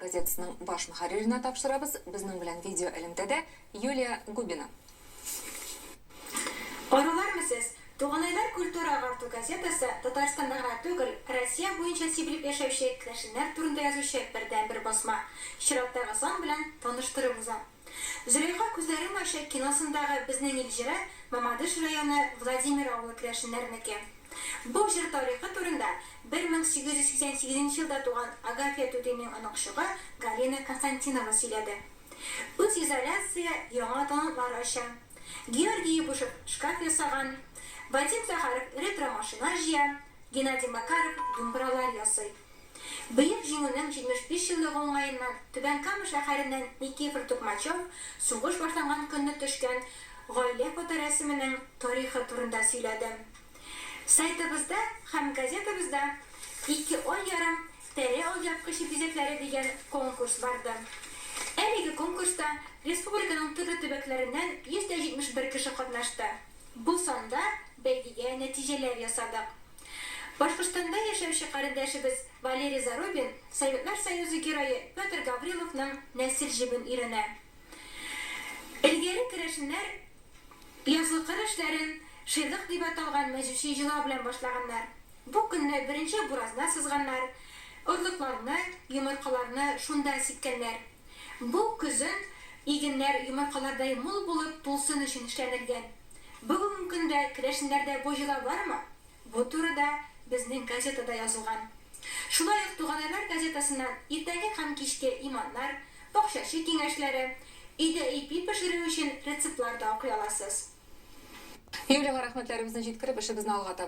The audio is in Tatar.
Газетасының баш мөхәрриренә тапшырабыз, безнең белән видеоэлемтәдә Юлия Губина. Арулармы сез? Туганайлар культура-агарту газетасы Татарстанда гына түгел, Россия буенча сибелеп яшәүче керәшеннәр турында язучы бердәнбер басма. Чираттагы сан белән таныштырып узам. Зөләйха күзләрен ача киносындагы Безнең ил җыры Мамадыш районы Владимир авылы керәшеннәренеке. Бу җыр тарихы турында 1888 нче елда туган Агафья түтинең оныкчыгы Галина Константинова сөйләде. Үзизоляция яңа талантлар ача. Георгий Ябушев шкаф ясаган, Вадим Захаров ретро машина җыя, Геннадий Макаров думбралар ясый. Бөек Җиңүнең 75 еллыгы уңаеннан Түбән Кама шәһәреннән Никифор Тукмачев сугыш башланган көнне төшкән гаилә фоторәсеменең тарихы турында сөйләде. Сайтыбызда һәм газетабызда Ике ай ярым тәре алъяпкычы бизәкләре дигән конкурс барды. Әлеге конкурста республиканың төрле төбәкләреннән 171 кеше катнашты. Бу санда бәйгегә нәтиҗәләр ясадык. Башкортстанда яшәүче карендәшебез Валерий Зарубин Советлар Союзы Герое Петр Гавриловның нәсел җебен өйрәнә. Элгәре керәшеннәр язгы кыр эшләрен шыйгык дип аталган мәҗүси җылау белән башлаганнар. Бу көнне беренче буразна сызганнар, орлыкларны, йомыркаларны шунда сипкәннәр. Бу көзен игеннәр йомыркалардай мул булып тулсын өчен эшләнелгән. Бүгенге көндә керәшеннәрдә бу йола бармы? Бу турыда безнең газетада язылган. Шулай ук Туганайлар газетасыннан иртәнге һәм кичке иманнар, бакчачы киңәшләре, өйдә ипи пешерү өчен рецептлар да укый аласыз. Юлиягә рәхмәтләребезне җиткереп, эшебезне алга таба.